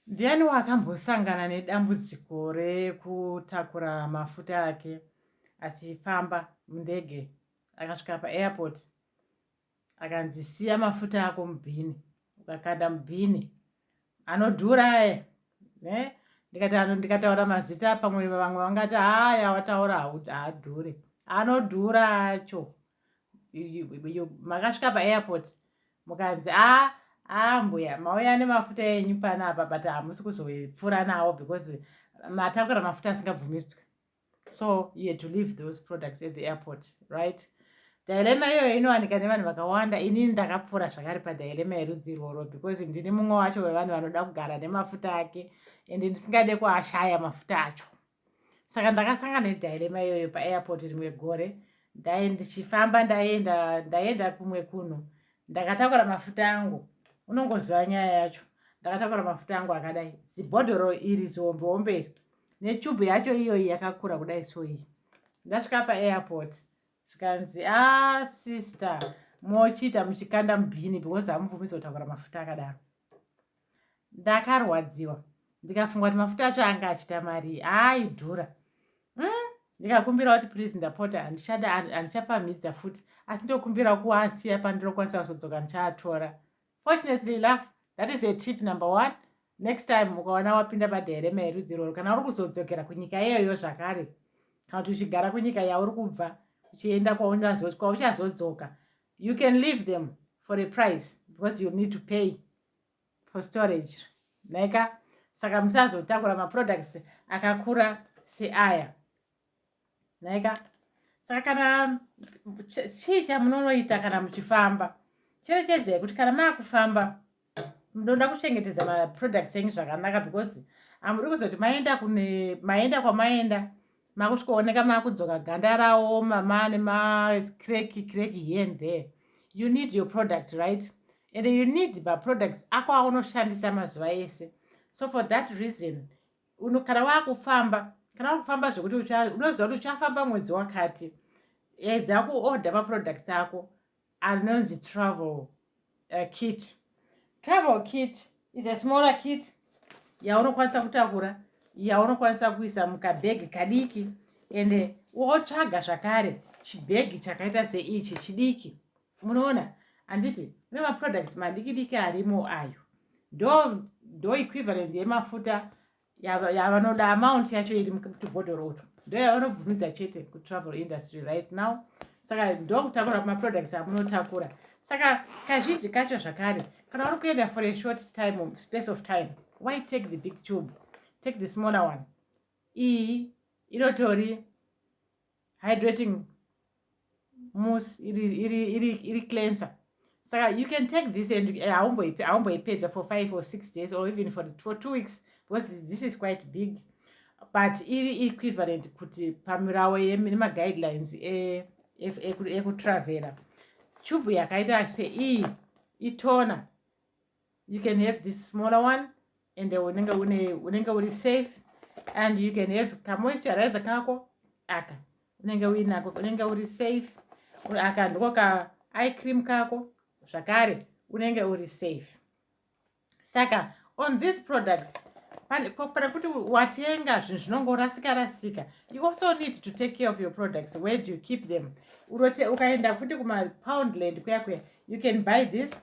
Ndiani wakambosangana nedambudziko rekutakura mafuta ake achifamba mundege akasvika paairport akanzi siya mafuta ako mubhini ukakanda mubhini anodhura aya ne ndikati ano ndikataura mazita pamwe vamwe vangati aya wataura haadhure anodhura acho makasvika paairport mukanzi a ah, ah, mbuya mauya nemafuta enyu panapa but hamusi kuzopfuura nawo because matakura mafuta asingabvumidzwe so you had to leave those products at the airport right dilema iyoyo inowanika nevanhu vakawanda inini ndakapfuura zvakare padilema yerudzi irworwo because ndini mumwe wacho wevanhu vanoda kugara nemafuta ake ende ndisingade kuashaya mafuta acho saka ndakasanga nedhirema iyoyo paairport rimwe gore ndae ndichifamba ndaenda ndaenda kumwe kuno ndakatakura mafuta angu unongoziva nyaya yacho ndakatakura mafuta angu akadai zibhodhoro iri zihombeombe iri nechubhu yacho iyoyi yakakura kudai so iyi ndasvika paairport zvikanzi a ah, sister mochiita muchikanda mubhini because hamubvumidzo kutakura mafuta akadaro ndakarwadziwa ndikafunga kuti mafuta acho anga achita mari aaidhura mm, ndikakumbira kuti please ndapota handichada handichapamhidza futi asi ndokumbira kuasiya pandinokwanisa kuzodzoka ndichaatora fortunately laugh that is a tip number one next time ukaona wapinda bada here maerudzi iroro kana uri kuzodzokera kunyika iyoyo zvakare kana kuti uchigara kunyika yauri kubva uchienda kwaunazoswa uchazodzoka you can leave them for a price because you need to pay for storage naika saka musazotakura maproducts akakura seaya naika saka kana chii chamunonoita kana muchifamba cherechedzai kuti kana maakufamba munoda kuchengetedza maproducts enyu zvakanaka because amuri kuzoti maenda kune maenda kwamaenda makusvikooneka makudzoka ganda raoma mane macreki creki here and there you need your product right and you need maproducts ako aunoshandisa mazuva ese so for that reason uno kana wakufamba kana wakufamba zvekuti unoziva kuti uchafamba mwedzi wakati edza kuorder maproducts ako rinonzi travel uh, kit travel kit is a smaller kit yaunokwanisa kutakura yaunokwanisa kuisa mukabhegi kadiki ende wotsvaga zvakare chibhegi chakaita seichi chidiki munoona handiti kune maproducts madiki diki arimo ayo ndo ndo equivalent yemafuta yavanoda amount yacho iri mutubhodhoro utu ndo yavanobvumidza chete kutravel industry right now saka ndokutakura maproducts amunotakura saka kazhinji kacho zvakare kana uri kuenda for a short time space of time why take the big tube take the smaller one iyi inotori hydrating mus iri iri iri iri cleanser saka you can take this and eh, haumboipedza for five or six days or even for, for two weeks because this is quite big but iri equivalent kuti pamirawo nemagaguidelines ekutravela e, e, e, e chubu yakaita seiyi itona you can have this smaller one and unenge une unenge uri safe and you can have kamoisturizer kako aka unenge uinako unenge uri safe aka ndiko ka eye cream kako zvakare unenge uri safe saka on these products pane kuti watenga zvinhu zvinongorasika rasika you also need to take care of your products where do you keep them ukaenda futi kumapoundland kuya kuya you can buy this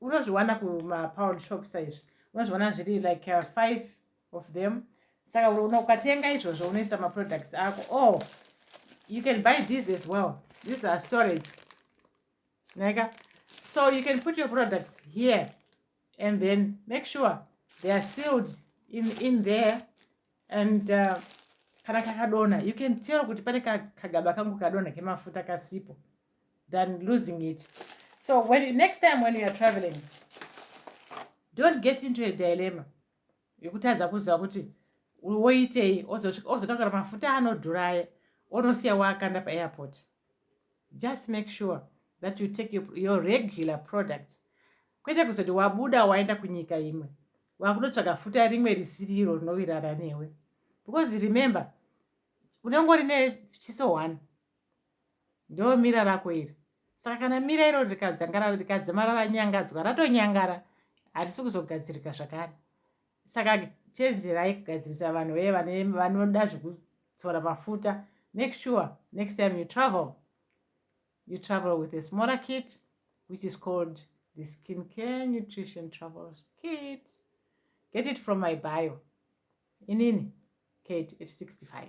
unozviwana kumapound shop saizvi unozviwana zviri like uh, five of them saka unoona ukatenga izvozvo unoisa maproducts ako o oh, you can buy these as well these are storage naika so you can put your products here and then make sure they are sealed in, in there and uh, kana kakadona you can tell kuti pane kagaba kangu kadona kemafuta kasipo than losing it so when you, next time when you are traveling don't get into a dilemma yekutadza kuziva kuti woitei ozotakura mafuta anodhuraya onosiya waakanda paairport just make sure that you take your, your regular product kwete kuzoti wabuda waenda kunyika imwe wakunotsvaga futa rimwe risiri iro rinovirara newe because remember unenge uri nechiso one ndomira rako iri saka kana mira iro rikadzangara rikadzamara ranyangadzwa ratonyangara harisi kuzogadzirika zvakare saka chenjerai kugadzirisa vanhu veye vanoda zvekudzora mafuta make sure next time you travel you travel with a smaller kit which is called the skin care nutrition travel kit get it from my bio inini kate at 65